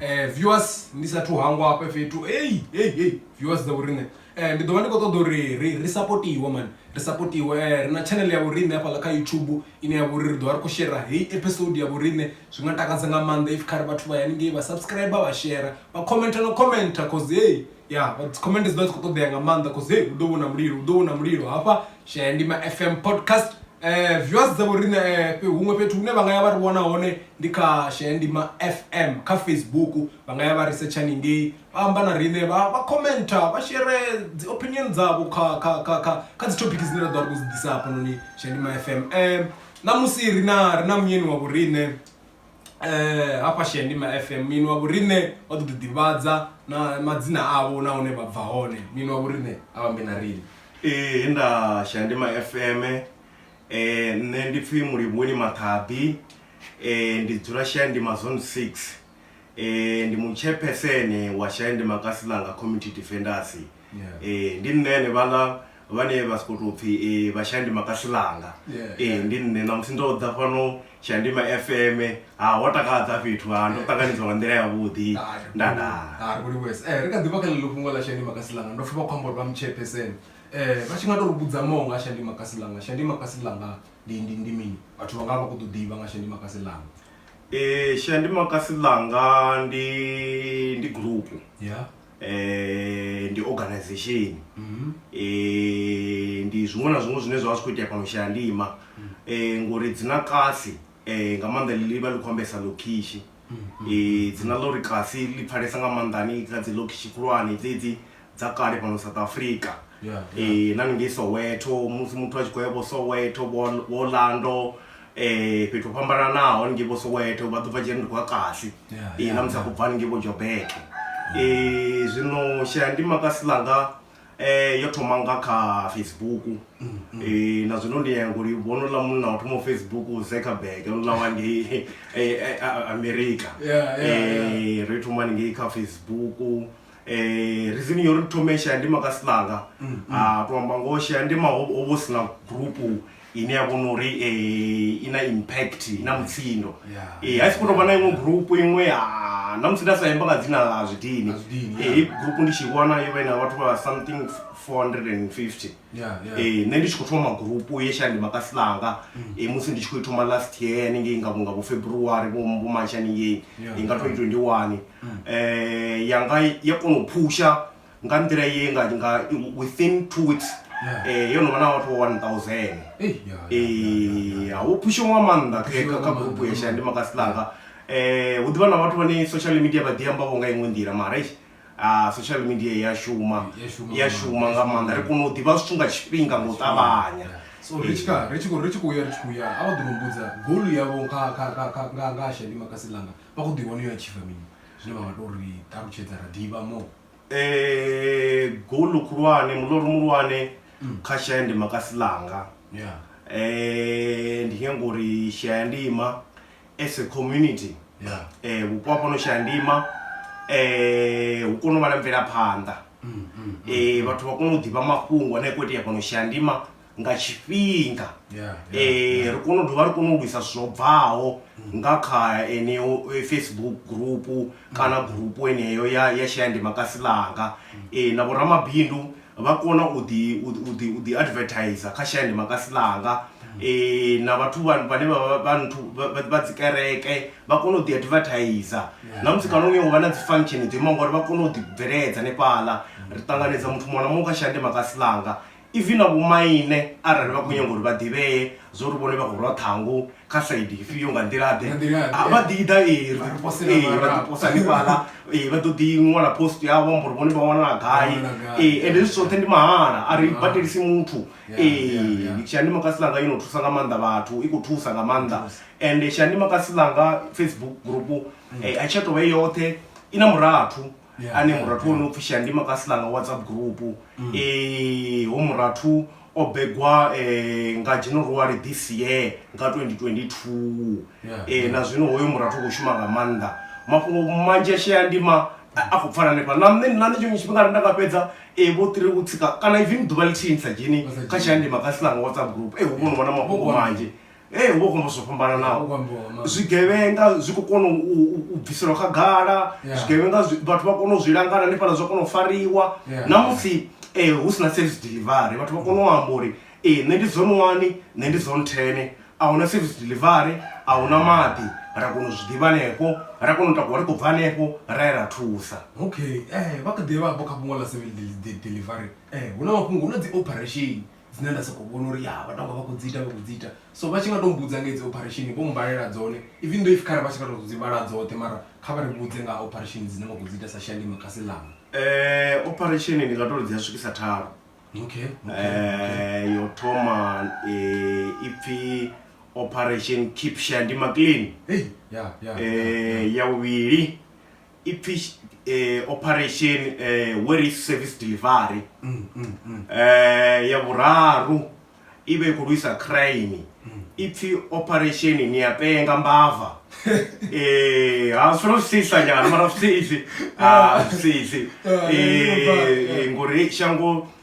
eh viewers ndi sathu hangwa hafha fhethu hey hey hey viewers dza vhoriṋe eh ndi ḓo vha ndi khou ṱoḓa uri ri ri supportiwe man ri supportiwe eh ri na channel ya vhoriṋe hafhaḽa kha youtube ine ya vhori ri ḓo vha ri khou shera heyi episode ya vhoriṋe zwi nga takadza nga maanḓa if khare vhathu vha ya haningei vha subscribe vha shera vha commenta na commenta cause hey ya comment dzi ḓo dzi khou ṱoḓea nga maanḓa cause hey hu ḓo vhona mulilo hu ḓo vhona mulilo hafha shaya ndima fm podcast eh viewers dzavho riṋe eh, fhe- huṅwe fhethu hune vha nga ya vha ri wana hone ndi kha shaya ndima fm kha facebook vha nga ya vha researcha ningei vha amba na riṋe vha vha commenta vha shere dzi opinion dzavho kha kha kha kha kha dzi topic dzine ra ḓo vha ri khou dzi ḓisa hafhanoni shaya ndima fm eh ṋamusi ri na ri na munyeni wa vhoriṋe eh hafha Shandima FM mini wa vhorine o ḓo ḓivhadza na madzina avho na hune vha bva hone mini wa vhorine a vhambe na riṋe ee eh, nda Shandima FM eh nṋe ndi pfhi Mulivhoni Maṱhabi eh ndi dzula Shandima zone 6 eh ndi mutshephesene wa Shandima Kasilanga Community Defenders eh ndi nṋe ne vhala vhane vha soko tou pfhi eh, vha shandima kasilanga yeah, eh, yeah. ndi nṋe namusi ndo ḓa fhano shandima fm ha ho takadza fhethu ha ndo ṱanganedzwa nga nḓila yavhuḓi ndadaaariwes eh, ri kha ḓivha kha ḽeḽo fhungo ḽa shandima kasilanga ndo pfha vha khou amba uri vha mutshepesene um vha tshi nga to ri vhudza maho nga shandima kasilanga shandima kasilanga ndi ndi ndi mini vhathu vha nga vha khou ḓo ḓivha nga shandima kasilanga um shandima kasilanga ndi ndi gurupu yeah. um ndi organization um ndi zwiṅwe na zwiṅwe zwine zwa vha zwi khou itea fhano shayandima um ngori dzina kasi um nga maanḓa ḽi vha ḽi khou ambesa lokhishi um dzina ḽa uri kasi ḽi pfhalesa nga maanḓani kha dzi lokhishi khulwane dzedzi dza kale fhano south africa Yeah, um na ningei soweto musi muthu a tshi khou ya vho soweto vho- vho lando um fhethu ho fhambananaho haningei vho soweto vha ḓo bva dzhia ndi khou ya kasi Yeah, Eh, yeah, na musi a yeah. khou bva haningei vho jobeke Eh, zwino shela ndi makasi ḽanga eh, yo thoma nga kha facebook Eh, na zwino ndi yango li vhono ḽa munna wa thoma facebook zekerberg onla wa ngei eh, eh, a- a- america Yeah, yeah, Eh, ri thoma haningei kha facebook Eh, reason yo ri thome shayandima ka silanga mm, mm. a ah, to amba ngoho shayandima ho vho si na group ine ya vhona uri um eh, i na impact i na mutsindo eh, a si khou tou vha na iṅwe group iṅwe ah, na musi nda sa imba nga dzina ḽa zwidini hei group ndi tshi vhona yo vha i na vhathu vha something 450 yeah, yeah. Eh, nṋe ndi tshi khou thoma magurupu ye shandi makasi langa mm. eh, musi ndi tshi khou thoma last year haningei nga nga vhofebruary vhomarch haningei yeah, nga 2021 mm. eh, yanga ya kona u phusha nga nḓila ye nga nga within two weeks yeah. eh, yo no vha na vhathu vho 1000 eh, yeah, yeah, yeah, yeah, yeah. wo phusha nga maanḓa kha gurupu ye shandi makasi langa yeah. eh hu ḓivha na vhathu vhane social media vha ḓi amba vho nga iṅwe nḓila mara Ah, social media i ya shuma I ya shuma i ya nga shuma maanḓa. nga maanḓa ri kone u ḓivha zwithu nga tshifhinga nga u ṱavhanya so ri tshi kha ri tshi khou ri tshi khou ya ri tshi khou ya a vha ḓo no mbudza goal yavho kha kha kha kha nga nga ha shandi makasi langa vha khou ḓi wana yo achieve mini zwine vha nga to ri ṱalutshedza ra ḓivha mo Eh, golu khulwane muloro muhulwane kha shaya ndi makasi langa ya Eh, ndi nyanga uri shaya ndima as a community yeah. eh, vhupo hafho no shaya ndima eh, hu kone u vha na mvelaphanḓa mm, mm, mm, eh, vhathu vha kone u ḓivha mafhungo ane a khou itea fhano shaya ndima nga tshifhinga yeah, yeah, eh, yeah. ri kone u dovha ri kone u lwisa zwo bvaho mm. nga kha eneo eh, facebook gurupu mm. kana gurupu eneyo ya, ya shaya ndima kasi langa mm. eh, na vhoramabindu vha kona u ḓi u ḓi u ḓi advertiser kha shaya ndi makasi ḽanga eh na vhathu vha vhane vha vha vha nthu vha- vha vha dzi kereke vha kona u ḓi advertiser na musi kana uyo vha na dzi function dzo imaho ngori vha kona u ḓi bveledza hanefhaḽa ri ṱanganedza muthu muṅwe na muṅwe kha shaya ndi makasi ḽanga even na vhomaine arali vha khou nyanga uri vha ḓivhee zwo ri vhone vha khou rwa ṱhangu kha saidi ifhio nga nḓilaḓe a vha ḓi ḓa ee vha ḓiposa hanefhaḽa ee vha ḓo ḓi ṅwala post yavho amba uri vhone vha wanala gai ee ende zwi zwoṱhe ndi mahala a ri badelisi muthu ee tshiandima kasi langa yo no thusa nga maanḓa vhathu i khou thusa nga maanḓa ende tshiandima kasi langa facebook group a tshi a tovha i yoṱhe i na murathu yeah, ane murathu yeah. ono pfhi shandima ka silanga whatsapp group mm. e, ho murathu o begwa eh, nga january this year nga 2022 yeah, eh, yeah. na zwino hoyo murathu khou shuma nga maanḓa mafhungo manzhi a sheyandima a khou pfala hanefha na nṋe na nṋe tshiṅwe tshifhinga nda nga fhedza e vho tiri u tsika kana even ḓuvha lithihi ni sa dzheni kha tshiandima ka silanga whatsapp group e hu vhono vhona mafhungo manzhi ee hu vha hu khou amba zwo fhambananaho zwigevhenga zwi khou kona u bviselwa khagala zwigevhenga vhathu vha kona u zwi langana hanefhala zwa kona u fariwa na musi um hu si na service delivery vhathu vha kona u amba uri ee nṋe ndi zone one nṋe ndi zone ten a huna service delivery a huna maḓi ra kona u zwi ḓivha hanefho ra kona u takuwa ri khou bva hanefho ra ye ra thusa okay vha kha ḓivha vho kha fhungo ḽa service delivery hu na mafhungo hu na dzi operation dzine nda sokou vhona uri ya vha tonga vha khou dzi ita vha khou dzi ita so vha tshi nga to mbudza nga hedzi operation vho mmbalela dzone even though if khare vha tshi nga to dzi vhala dzoṱhe mara kha vha ri vhudze nga operation dzine vha khou dzi ita sa shandima kasi ḽanga um operation ndi nga to ri dzi a swikisa thalo okay, okay, okay. Um, yo thoma eh, ipfi operation keep shandima clean hey, yeah, yeah, um yeah. ya vhuvhili ipfi eh, operation eh, where is service delivery mm, mm, mm. eh, ya vhuraru i vha i khou lwisa crime ipfi operation ni ya penga mbava eh ha solo sisa nyana mara sisi ah sisi Ah, eh, eh ngori shango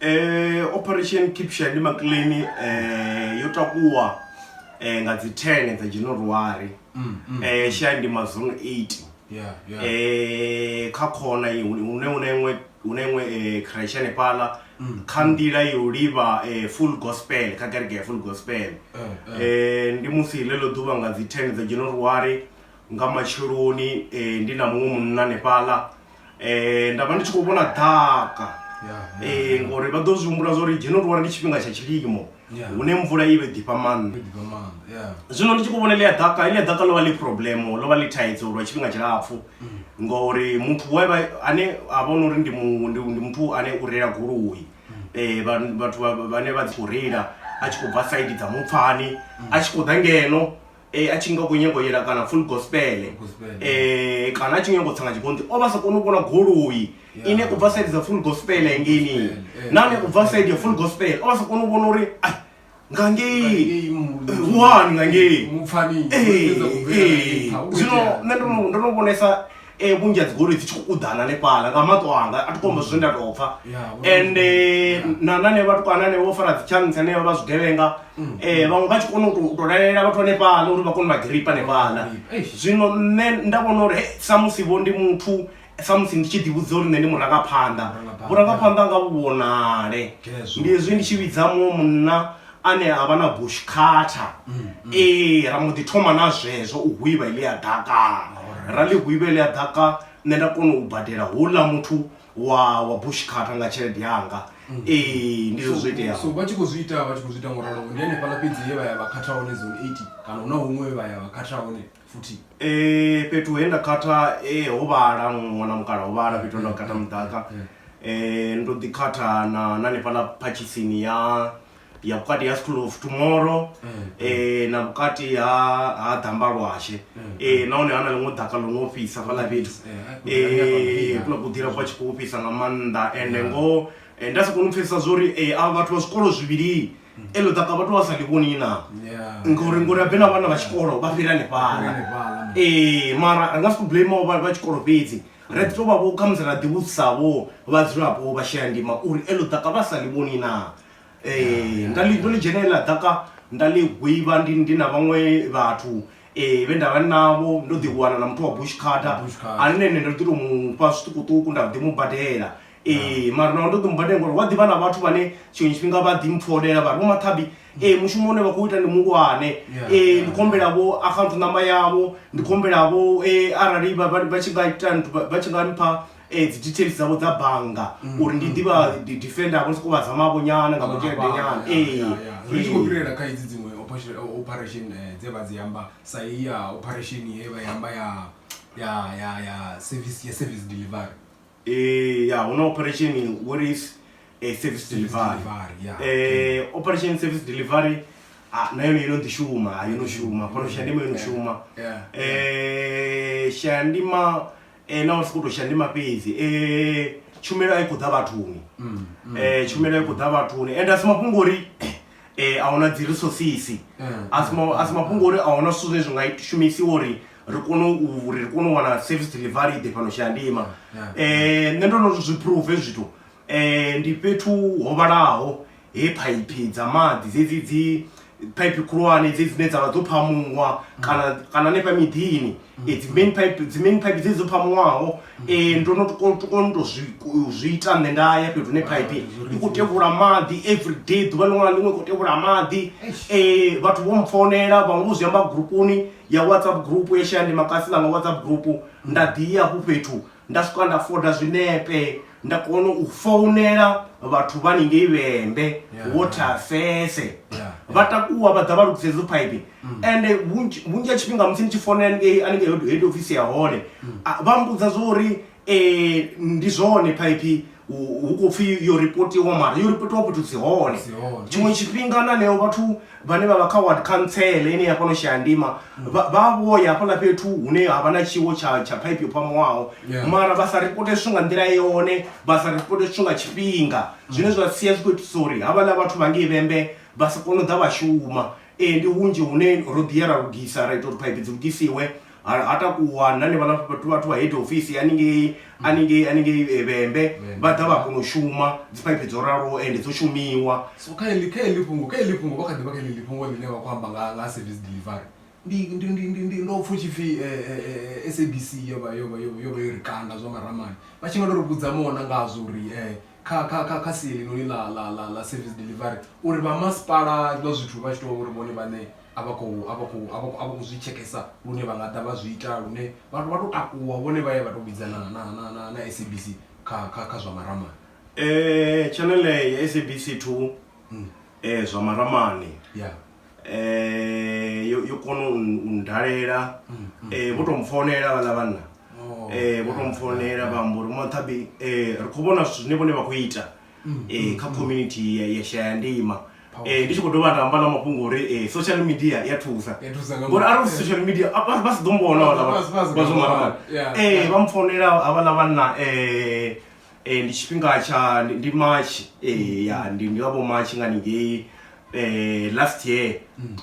eh, operation kipsha ndi maclani eh, yo takuwa eh, nga dzi 10 dza january Mm, mm. eh, shaya ndi mazone 8 Yeah, yeah. eh kha khona i- une une iṅwe une iṅwe eh crash hanefhala kha nḓila yo livha eh full gospel kha kereke ya full gospel Eh, eh. eh ndi musi ḽeḽo ḓuvha nga dzi 10 dza january nga matsheloni eh, ndi na muṅwe munna hanefhaḽa eh, nda vha ndi tshi khou vhona ḓaka eh, ngori vha ḓo zwi humbula zwa uri january ndi tshifhinga tsha tshilimo Yeah. hune mvula i vhe ḓifha maanḓa Ndi ḓivha maanḓa, yeah. zwino ndi tshi khou vhona ḽia ḓaka ḽia ḓaka ḽo vha ḽi problem ḽo vha ḽi thaidzo lwa tshifhinga tshilapfhu ngori muthu we vha ane a vhona uri ndi mu- ndi ndi muthu ane u reila goloi eh vha- vhathu vha- vhane vha dzi khou reila a tshi khou bva saidi dza mupfani a tshi khou ḓa ngeno e, a tshi nga khou nyago yela kana full gospele e, kana a tshi nyago tsanga tshikonti o vha sa koni u vhona goloi ine u bva saidi dza full gospele engeni nane u bva saidi ya full gospele o vha sa koni u vhona uri ai nga ngei wani nga ngei ee zwino nṋe ndo no vhonesa e vhunzhi ha dzigoloi dzi tshi khou uḓana hanefhala nga maṱo anga a thi khombo zwine nda tou pfha ende na nane vhatukana ane vho fara dzitshantsi ane vha vha zwigevhenga um vhaṅwe vha tshi kona u tou lalelea vhathu hanefhala uri vha kone vha giripa hanefhala zwino nṋe nda vhona uri he samusi vho ndi muthu samusi ndi tshi ḓivhudza uri nṋe ndi murangaphanḓa vhurangaphanḓa nga vhu vhonale ndi hezwi ndi tshi vhidza muṅwe munna ane a vha na bush cutter mm, mm. ee ra mbo ḓi thoma na zwezwo u hwivha ile ya ḓaka ra ḽi hwivha ile ya ḓaka nṋe nda kona u badela houḽa muthu wa wa bush cutter nga tshelede yanga mm. ee ndi zwo zwo iteaho so vha tshi khou zwi ita vha tshi khou zwi ita ngoralo ndi hanefhaḽa fhedzi ye vha ya vha khatha hone zone eight kana hu na huṅwe vha ya vha khatha hone futhi. Eh fhethu he nda khatha eh ho vhala ṅwana mukala ho vhala fhethu nda khatha muḓaka eh ndo ḓi khatha na na nefhala phatshitsini ya ya vhukati ha school of tomorrow eh na vhukati ha ha damba lwashe eh nahone ha na ḽiṅwe ḓaka ḽo no fhisa fhaḽa fhethu eh kula kuḓila kwa tshi khou fhisa nga maanḓa ende ngoho nda si kone u pfhesesa zwori a vhathu vha zwikolo zwivhili mm. eḽo ḓaka vhathu vha sa ḽi vhoni na ngori ngori abe na vhana vha tshikolo vha fhira hanefhala ee mara ri nga si khou blame vha tshikolo fhedzi ri ḓi tou vha vho khamusi ra ḓivhudzisavho vhadzulapo vha shela ndima uri eḽo ḓaka vha sa ḽi vhoni na ee nda ḽi ndo ḽi dzhenelela ḓaka nda ḽi gwivha ndi na vhaṅwe vhathu eh vhe ndavha navho ndo ḓi wana na muthu wa bush carter ane nṋe ndo ḓi to mu fha zwiṱukuṱuku nda ḓi mu badela ee mara naho ndo ḓo mubadela ngori wa ḓivha na vhathu vhane tshiṅwe tshifhinga vha ḓi mpfolela vha ri vho mathabi ee mushumo une vha khou ita ndi muhulwane ee ndi khombela vho account number yavho ndi khombela vho ee arali vha tshi nga ita vha tshi nga mpha um dzi details dzavho dza bannga mm, uri ndi mm, ḓivha mm. defender vho sokou vha zamavho nyana nga kutshelede nyana ee ri tshi khou fhirela kha idzi dziṅwe operation eh, dze vha dzi amba sa i ya operation ye vha yamba ya ya ya ya service ya service delivery Eh, ya huna operation what is eh, service delivery yeah. eh, operation service delivery ah, na yone ino ndishuma ah, ino shuma pano shandima ino shuma yeah. eh, shandima eh, na uri sikuto shandima fhedzi eh, tshumelo a i khou ḓa vhathuni mm, mm, eh, tshumelo a i khou ḓa vhathuni and asi mafhungo uri eh, a huna dzi resources asi ma- asi mafhungo uri a huna zwithu zwine zwi nga shumisiwa uri ri kone u ri kone u wana service delivery i ḓe fhano shayandima um nṋe ndo no zwi phuruva hezwi zwithu um ndi fhethu ho vhalaho he phaiphi dza maḓi dzedzi dzi phaiphi khulwane dze dzine dzavha dzo phamuwa mm. kana kana hanefha miḓini mm. eh, dzi main pipe dzi main pipe dze dzo phamuwaho um mm. eh, ndo no kona to zwi ita nṋe nda ya fhethu hune phaiphi i khou tevhula maḓi every day ḓuvha ḽiṅwe na ḽiṅwe i khou tevhula maḓi um vhathu vho mpfonela vhaṅwe vho zwi amba gurupuni ya whatsapp group ye shaya ndi makasina nga whatsapp group nda ḓi ya hafhu fhethu nda swika nda foda zwinepe nda kona u founela vhathu vha ningei vhembe wo thafese vha takuwa vha ḓa vha lugisa idzo phaipi mm. ende vhunzhi ha tshifhinga musi ni tshi founela ningei aningei head office ya hone mm. vha mbudza zwa uri ee ndi zwone phaiphi hu khou pfhi yo ripotiwa mara yo ripotiwa fhethu dzi hone tshiṅwe tshifhinga na neo vhathu vhane vha vha kha ward khantsele ine ya fhano shayandima vha vho ya hafhaḽa fhethu hune ha vha na tshiwo tsha tsha phaiphi yo phamuwaho mara vha sa ripote zwithu nga nḓila yone vha sa ripote zwithu nga tshifhinga zwine zwa sia zwi khou itisa uri havhaḽa vhathu vha ngei vhembe vha si kone u ḓa vha shuma ee ndi hunzhi hune ro ḓi ya ra lugisa ra ita uri phaiphi dzi lugisiwe ha ha takuwa na ni vha na vhathu vhathu vha head office haningei haningei haningei eh, vhembe vha ḓa vha kona u shuma dziphaiphi dzo raloho ende dzo shumiwa so kha ili kha ili fhungo kha ili fhungo vha kha ḓivha kha ili fhungo ḽine vha khou amba nga nga service delivery ndi ndi ndi ndi ndi ndo pfha u tshi pfhi eh, eh, eh, SABC yo vha yo vha yo yo vha yo ri kanda zwa maramani vha tshi nga to ri vhudza mona ngazwo uri eh kha kha kha kha sia helinoni ḽa ḽa ḽa ḽa service delivery uri vha masipala zwiḽa zwithu vha tshi to uri vhone vhane a vha khou a vha khou a vha khou zwi tshekesa lune vha nga ḓa vha zwi ita lune vhathu vha to takuwa vhone vha ya vha to vhidza na na na na na SABC kha kha kha zwa maramani eh channel ya SABC 2 hmm. eh zwa maramani yeah eh yo yo kono undalela hmm, hmm. eh vho to mfonela vhala vhanna oh, eh vho to mfonela vha mbo ri mothabi eh ri khou vhona zwine vhone vha khou ita mm, eh, mm, kha mm. community ya, ya shaya ndima Eh, ndi tshi khou dovha nda amba na mafhungo uri eh, social media ya thusa ngori arali social media vha si ḓo mbona vhazomara eh, vha mpfonela havhala vhanna um ndi tshifhinga tsha ndi march ya ndi ndi vha vho march nga ningei um last year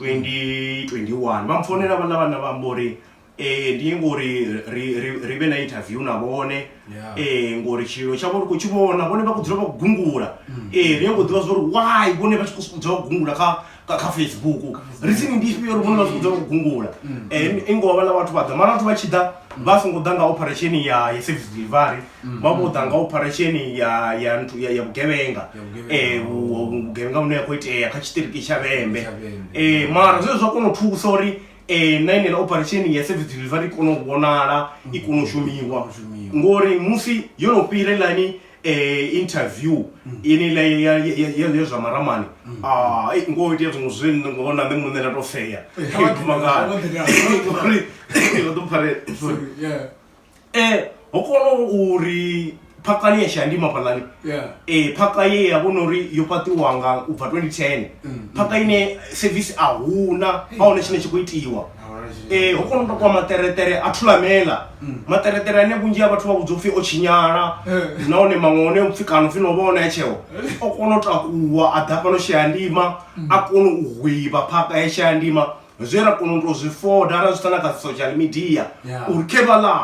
2021 mm. vha mpfonela vhanna vhanna vha amba uri eh ndi ngori ri ri ri vhe na interview na vhone Yeah. eh ngori tshilo tshavho ri khou tshi vhona vhone vha khou dzula vha khou gungula eh ri ngo ḓivha zwauri why vhone vha tshi khou sokou dzula vha khou gungula kha kha- kha facebook ri tsini ndi ifhio uri vhone vha sokou dzula vha khou gungula eh i ngoho vhala vhathu vha ḓa mara vhathu vha tshi ḓa vha songo ḓa nga operation ya ya service delivery vha vho ḓa nga operation ya ya nthu ya ya vhugevhenga Ya vhugevhenga. eh vhu- vhu- vhugevhenga vhune ya khou itea kha tshiṱiriki tsha vhembe Tsha Vhembe. eh mara zwe zwa kona u thusa uri eh, na enela operation ya service delivery i kone u vhonala i kone u shumiwa ngori musi yo no fhira ilani eh, interview inela ya- ya- ya- ya ya zwa maramani Ah, eh, ngo itea zwiṅwe zwine ngo na nṋe muṋe nda to feya Eh, Kha vha ḓi- kha vha ḓi- Ngori, vha ḓo pfare- eh ho kona uri phaka ni ya shandima phalani yeah eh phaka ye ya vhona uri yo fhaṱiwa nga u bva 2010 Mm. phaka ine service a huna a hone tshine tshi khou itiwa Ahuna tshine- eh ho kona u takuwa maṱereṱere a thulamela Mm. maṱereṱere ane vhunzhi ha vhathu vha vhudzwa upfhi o tshinyala Eh. nahone maṅwe one upfhi kana upfhi no vha one ya tsheo o kona u takuwa a ḓa fhano shayandima a kona u hwivha phaka ya shayandima zwe ra kona u tou zwi foda ra zwi sa na kha social media uri khe vha ḽa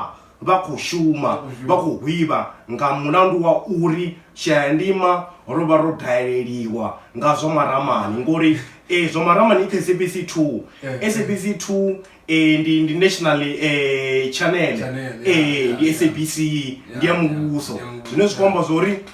vha khou shuma vha khou hwivha nga mulandu wa uri shayandima ro vha ro daleliwa nga zwa maramani ngori e zwa maramani i kha sabc 2 sabc 2 e ndi ndi national e channel e ndi sabc ndi ya muvhuso zwine zwi khou amba zwa uri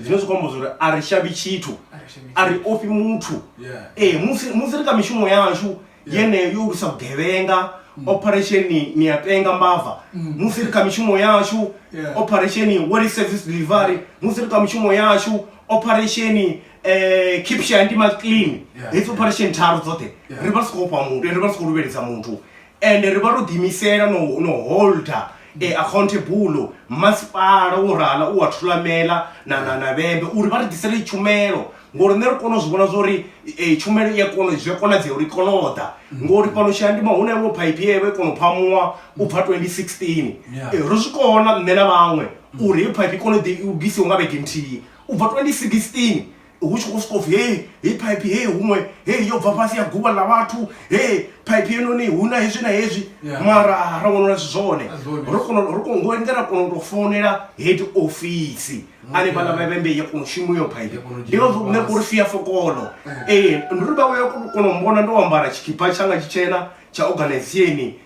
zwine zwi khou amba zwori a ri shavhi tshithu a ri ofhi muthu ee musi musi ri kha mishumo yashu yeneyo yo lwisa vhugevhenga mm. operation ni ya penga mbava mm. musi ri kha mishumo yashu operation world service delivery musi ri kha mishumo yashu operation eh keep shandima clean hedzi operation tharu dzoṱhe ri vha ri si khou fha muthu ri vha ri si khou luvhelisa muthu ende ri vha ro ḓiimisela no no holder e accountable masipala wo rala u wa thulamela na na na vhembe uri vha ri ḓisele tshumelo ngori nṋe ri kone u zwi vhona zwori e, tshumelo i a kona zwi a konadzea uri kone u ḓa ngori fhano tshiandima hu na iṅwe phaipi ye vha i kona u phamuwa u bva 2016 Yeah. e, ro zwi kona nṋe na vhaṅwe uri heyi phaipi i kone u ḓi- u bvisiwe nga vhege nthihi u bva 2016 hu tshi khou sokou pfhi hei hei phaiphi hei huṅwe hei yo bva fhasi ya guvha ḽa vhathu hei phaiphi yenoni hu na hezwi na hezwi mara ra wana uri si zwone ro kona ro kona ngo endela kona u tou founela head ofisi ane vhala vha vhembe ya kona u shuma iyo phaiphi ndi nga zwo nṋe uri fia fokolo ee ndi uri vha vha ya kona u mbona ndo ambara tshikhipha tshanga tshitshena tsha organizationi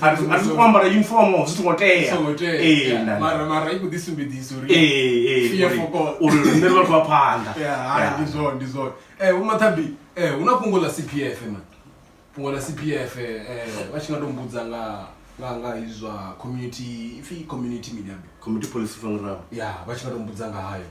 ari zwi khou ambara uniform zwi songo tea mara mara i khou ḓi sumbedzisa uri uri riṋe ri vhathu vha phanḓa ndi zwone ndi zwone um vho mathabi um hu na fhungo ḽa c p f ma fhungo ḽa c p f um vha tshi nga to mbudza nga nga nga hezwi zwa community ipfhi community mini ambe community policy fanga ya vha tshi nga to mbudza nga hayo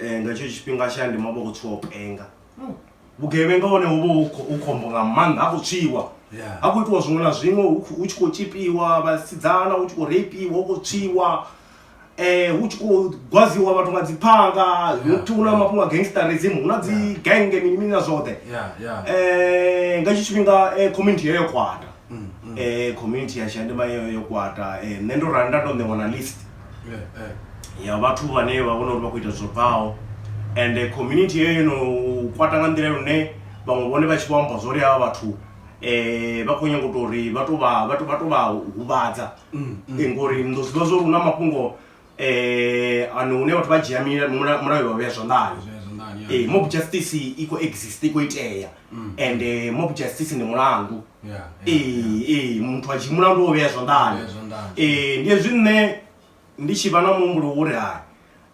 eh, nga tshetsho tshifhinga tsha ndima vha khou tswiwa u penga hmm. vhugevhenga hone hu vha u khombo nga maanḓa ha khou tswiwa ha khou itiwa zwiṅwe na zwiṅwe hu tshi khou tshipiwa vhasidzana hu tshi khou reipiwa hu khou tswiwa um hu tshi khou gwaziwa vhathu nga dzi phanga nokuthi hu na mafhungo a gangstarism hu na dzi genge mini mini na zwoṱhe um nga tshi tshifhinga eh, community yeyo kwata um community ya shandima yeyo yo kwata um nṋe ndo rali nda tou ṋewa na list ya vhathu vhane vha vhona uri vha khou ita zwo bvaho and community heyo no kwata nga nḓila lune vhaṅwe vhone vha tshi vho amba zwori havha vhathu um vha khou nyanga u to uri vha to vha vha to vha to vha huvhadza mm, mm. ngori ni ḓo zwiḓivha zwa uri hu na mafhungo um eh, ano hune vhathu vha dzhia mulayo vha vhea zwanḓani ee eh, mob justice i khou exist i khou itea mm. and eh, mob justice ndi mulandu ee ee muthu a tshi mulandu wo vhea zwanḓani ee ndi hezwi nṋe ndi tshi vha na muhumbulo wo ri hai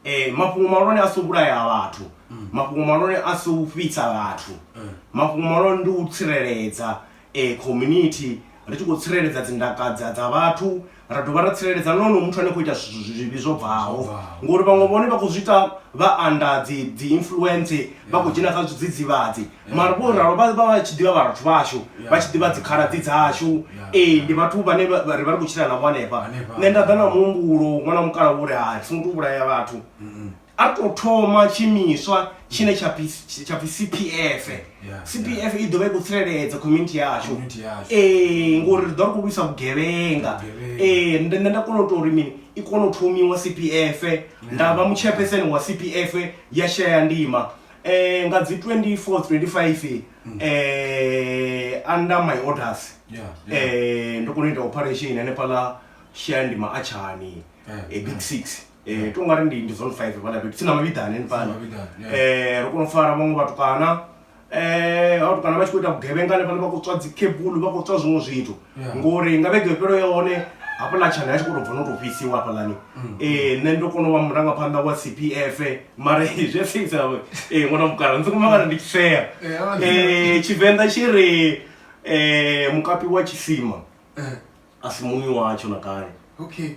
um mafhungo mahulwane a si u vhulaya vhathu mm. mafhungo mahulwane a si u fhitsa vhathu mm. mafhungo mahulwane ndi u tsireledza um community ri tshi khou tsireledza dzindaka dza vhathu ra dovha ra tsireledza na onoyo muthu ane khou ita zwivhi zwo bvaho ngori vhaṅwe vhone vha khou zwi ita vha anda dzi dzi influence vha khou dzhena kha zwidzidzivhadzi mara vho ralo vha vha vha tshi ḓivha vhathu vhashu vha tshi ḓivha dzikhala dzi dzashu ee ndi vhathu vhane ri vha ri khou tshila navho hanefha nṋe nda ḓa na muhumbulo ṅwana wa mukala wo ri hai songo to vhulaya vhathu a tou thoma tshiimiswa tshine tsha pfi tsha pfi cpf Yeah, cpf i ḓovha i khou tsireledza community yashu Community yashu. ee ngori ri ḓo ri khou lwisa vhugevhenga Vhugevhenga. ee nda nda- nda kona u tou uri mini i kona u thomiwa cpf nda vha mutshepeseni wa cpf ya shaya ndima eh nga dzi 24 25 eh under my orders Yeah, yeah. eh ndo kona u ita operation hanefhaḽa shaya ndima a tshani Yeah, eh, big six eh, to ngari ndi ndi zone five fhala fhethu tsini na mavhiḓani henefhala eh, ri kona u fara vhaṅwe vhatukana um vhatukana vha tshi khou ita vhugevhenga hanefhala vha khou tswa dzikebulu vha khou tswa zwiṅwe zwithu ngori nga vhege fhelo ya hone hafhaḽa tshana ya tshi khou tou bva no tou fhisiwa hafhaḽani um nṋe ndo kona u vha murangaphanḓa wa c p f mara zwi a fisa um ṅwana mukala ndzi kumangana ndi tshi fea um tshivenḓa tshi ri um mukapi wa tshisima a si muṅwi watsho na kale okay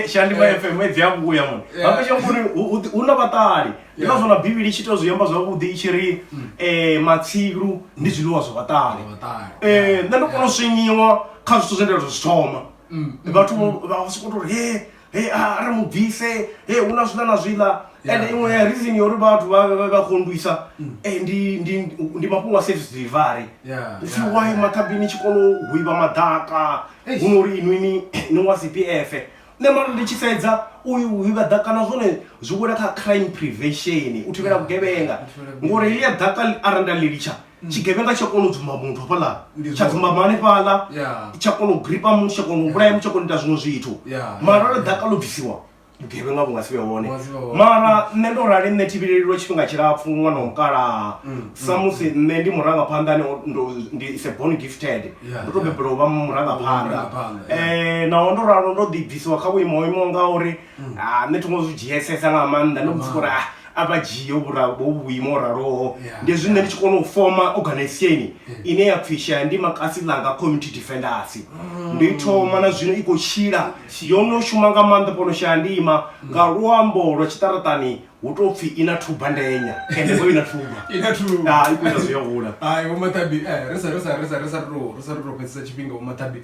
shandiba fm edzi a vhuya mone vhape tshi amba uri hu na vhaṱali ndi ngazwo na bivhili i tshi ita zwi amba zwavhuḓi i tshi ri um mm. matsilu ndi zwiḽiwa zwa vhaṱali um nṋe ndo kona u swinyiwa kha zwithu zwe nda zwi thoma mm. vhathu vha sokou tou ri he he a ri mu bvise he hu na zwiḽa na zwiḽa ende iṅwe ya reason yo uri vhathu vha kondwisa mm. eh, ndi mafhungo a service delivery upfhi why mathabini tshi kona u hwiva maḓaka hu no uri inwini ni wa cpf nṋe mara ndi tshi sedza u hwiva ḓaka na zwone zwi wela kha crime prevention u thivhela vhugevhenga ngori helia ḓaka arali nda ḽi litsha mm. tshigevhenga tsha kona u dzumba muthu hafhaḽa tsha dzumbama hanefhaḽa tsha kona u gripa muthu tsha kona u vhulaya muthu tsha kona ita zwiṅwe zwithu mara ro ḓaka ḽo bvisiwa vhugevhenga vhu nga si vhe hone mara nṋe ndo rali nṋe thivhelelilwa tshifhinga tshilapfu ṅwana wa mukalaha mm, mm, samusi mm. nṋe ndi murangaphanḓa ndi is a born gifted ndo to bebelwa u vha murangaphanḓa um naho ndo ralo ndo ḓibvisiwa kha vhuimo ho imaho nga uri ha nṋe thongo zwi dzhiesesa nga maanḓa ndo muthu uri a a vha dzhie vhuimo raloho ndi zwi nṋe ndi tshi kona u foma organization ine ya pfhi shaya ndi makasi ḽanga community defenders mm. ndo i thoma na zwino i khou tshila yo no shuma nga maanḓa fhano shaya ndima nga luambo lwa tshiṱaratani hu tou pfhi i na thuba ndenya ende vho i na thuba i na thuba i khou ita zwi ya hula hai vho maṱabi eh, ri sa ri sa ri sa ri sa ri tou ri sa ri tou fhedzisa tshifhinga vho maṱabi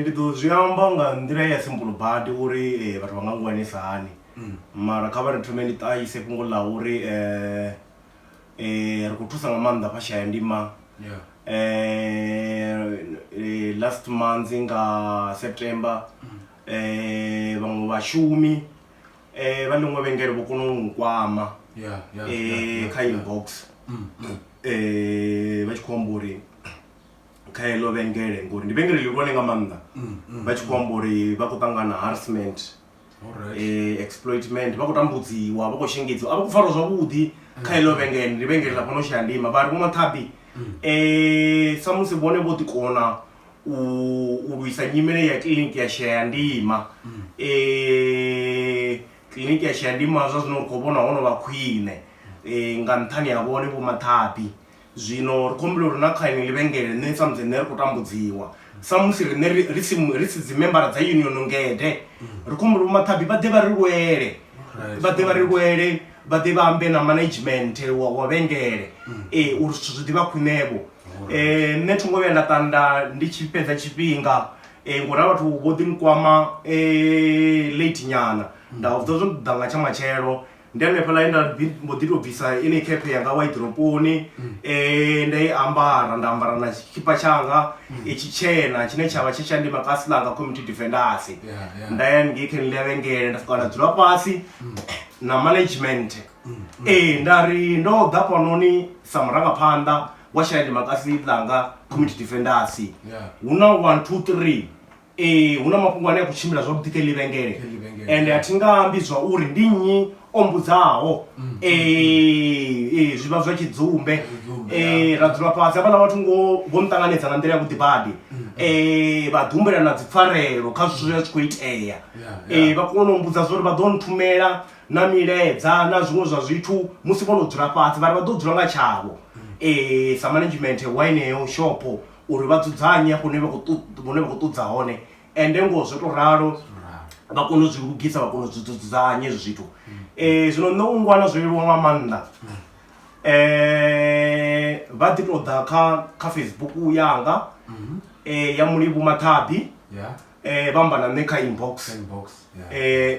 Ndi ḓo zwi amba nga nḓila ya simple badi uri vhathu vha nga ngwanisa hani mm. mara kha vha ri thome ndi ṱahise fhungo ḽa uri ri khou thusa nga maanḓa vha shaya ndima last month nga september mm. vhaṅwe vhashumi eh vha ḽiṅwe vhengele vho kona u nkwama eh kha inbox mm, mm. eh vha tshi khou amba uri kha heḽo vhengele ngori ndi vhengele ḽihulwane nga maanḓa mm, vha tshi khou amba uri vha khou ṱangana harassment eh exploitment vha khou tambudziwa vha khou shengedziwa a vha khou farwa zwavhuḓi kha heḽo vhengele ndi vhengele ḽa fhano shaya ndima vha ri vho mathabi eh samusi vhone vho ḓikona u u lwisa nyimele ya kiḽiniki ya shayandima kiḽiniki ya shayandima zwa zwino ri khou vhona ho no vha khwine nga nṱhani ha vhone vho maṱhaṱhi zwino ri khou humbula uri na kha iṅwe ḽivhengele nṋe samusi nṋe ri khou tambudziwa samusi riṋe ri si ri si dzimembara dza union ngede ri khou humbula vho maṱhaṱhi vha ḓe vha ri lwele vha ḓe vha ri lwele vha ḓe vha ambe na management wa wa vhengele uri zwithu zwi ḓivha khwinevho eh, nṋe thi ngo vhuya nda tanda ndi tshi fhedza tshifhinga eh, ngori a vhathu vho ḓi nkwama eh, late nyana nda vha vhudza zwo ḓa nga tsha matshelo ndi hanefha ḽa nda mbo ḓi tou bvisa ine khephe yanga wa iḓroponi um mm. nda i ambara nda ambara na tshikipa tshanga mm. i tshi tshena tshine tsha vha tsha tsha ndi makasi ḽanga community defendasi nda ya ngei kha ni ḽavhengele nda swika nda dzula fhasi mm. na management ee nda ri ndo ḓa fhanoni sa murangaphanḓa wa shaya democracy ḽanga community defenders Yeah. hu na one two three ee hu na mafhungo ane a khou tshimbila zwavhuḓi kha ḽi Kha vhengele iḽi vhengele. ende a thi nga ambi zwa uri ndi nnyi o mbudzaho ee ee, zwi vha zwa tshidzumbe Tshidzumbe, ee ya. ra dzula fhasi havhaḽa vhathu ngo vho nṱanganedza nga nḓila ya vhuḓi badi ee vha ḓi humbela na dzipfarelo kha zwithu zwe zwa tshi khou itea Yeah, ee yeah. vha kona u mbudza zwa uri vha ḓo nthumela na miledza na zwiṅwe zwa zwithu musi vho no dzula fhasi vhari vha ḓo dzula nga tshavho um sa management wa ineyo shopo uri vha dzudzanye hafho hune vha khou ṱudza hone ende ngoho zwo tou ralo vha kone u zwi lugisa vha kone u zwi dzudzanya hezwi zwithu um zwino nṋe u ngwana zwo leluwa nga maanḓa um vha ḓi tou ḓa kha kha facebook yanga um ya mulivhu maṱhabi um vha amba na nṋe kha inbox um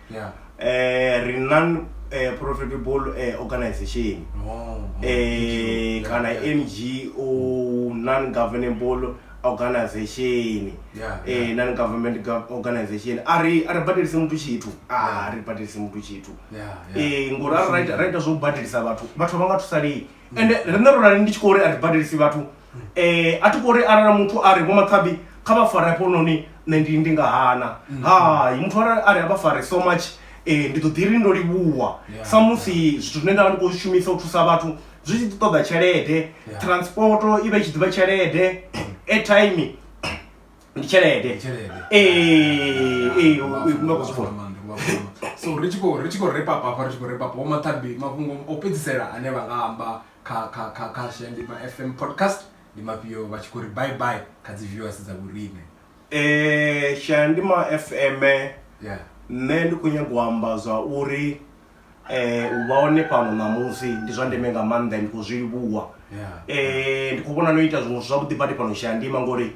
yeah. eh, ri non eh, profitable eh, organization oh, oh, eh, kana yeah. ngo non governable organization yeah, eh, yeah. Eh, non government organization a ri badelise muthu tshithu a ah, ri badelise muthu tshithu yeah, yeah. eh, ngori a ri ita zwo badelisa vhathu vhathu vha nga thusalei mm. ende rine ro rali ndi tshi khou uri a ri badelisi vhathu eh a thi khou ri arali muthu a ri vho mathabi kha vha fare hafhanoni nṋe ndi ndi nga hana mm. hai muthu arali a ri a vha fare so much eh ndi ḓo ḓi ri ndo livhuwa samusi zwithu zwine nda vha ndi khou shumisa u thusa vhathu zwi tshi ḓi ṱoḓa tshelede transporto i vha i tshi ḓivha tshelede airtime ndi tshelede ee ee u khou zwi vhona so ri tshi khou ri tshi khou repa papa ri tshi khou repa papa vho mathabi mafhungo o fhedzisela ane vha nga amba kha kha kha kha Shayandima FM podcast ndi mafhio vha tshi khou ri bye bye kha dzi viewers dza vhorine eh Shayandima FM yeah nṋe ndi khou nyanga u amba zwa uri eh u vha hone fhano ṋamusi ndi zwa ndeme nga maanḓa ndi khou zwi livhuwa Yeah. eh ndi khou vhona no ita zwiṅwe zwithu zwavhuḓi badi fhano Shayandima ngori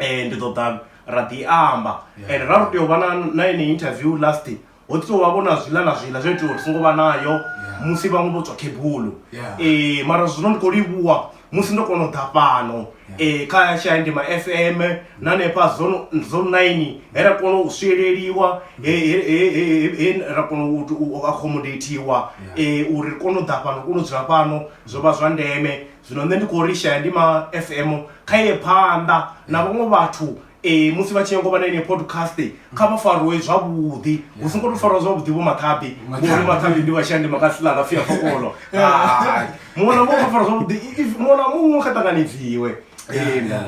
um ndi ḓo ḓa ra ḓi amba and ra ri tea u vha na ene interview last ho ḓi tou vha vho na zwiḽa na zwiḽa zwo itiwa uri songo vha nayo musi vhaṅwe vho tswa khebulo um mara zwino ndi khou livhuwa musi ndo kona u ḓa fhano um kha tshiaindima f m na hanefha zone nine he ra kona u swieleliwa he ra kona u accomodateiwa um uri ri kone u ḓa fhano ri kone u dzula fhano zwo vha zwa ndeme zwino nṋe ndi khou ri shaya ndi ma f m kha ye phanḓa na vhaṅwe vhathu um musi vha tshi nyanga u vha na ine podcast kha vha fariwe zwavhuḓi hu si ngo to fariwa zwavhuḓi vho mathabi ngori mathabi ndi vhashaya ndi makasi ḽa nga fia fokolo hai muṅwe na muṅwe kha fariwa zwavhuḓi if muṅwe na muṅwe kha ṱanganedziwe ee nda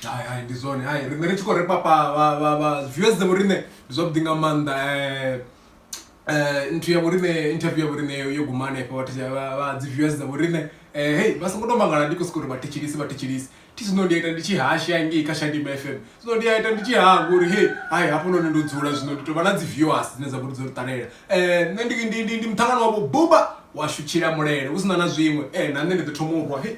hai hai ndi zwone hai riṋe ri tshi khou ri papa vha vha vha viewers dzavho riṋe ndi zwavhuḓi nga maanḓa um eh, nthu ya vhorine interview ya vhorine yo guma hanefho vhathu vha dzi viewers dza vhorine eh, hey vha songo to mangala ndi khou sokou ri vha thetshelisi vha thetshelisi thi zwino ndi a ita ndi tshi hasha ngei kha shadima f m zwino ndi a ita ndi tshi hanga uri he hai hafhanoni ndo dzula zwino ndi tou vha na dzi viewers dzine dza vhori dzo ri ṱalela um nṋe ndi muṱangano wavho buba washu tshila mulele hu si na na zwiṅwe um na nṋe ndi ḓo thoma u rwa he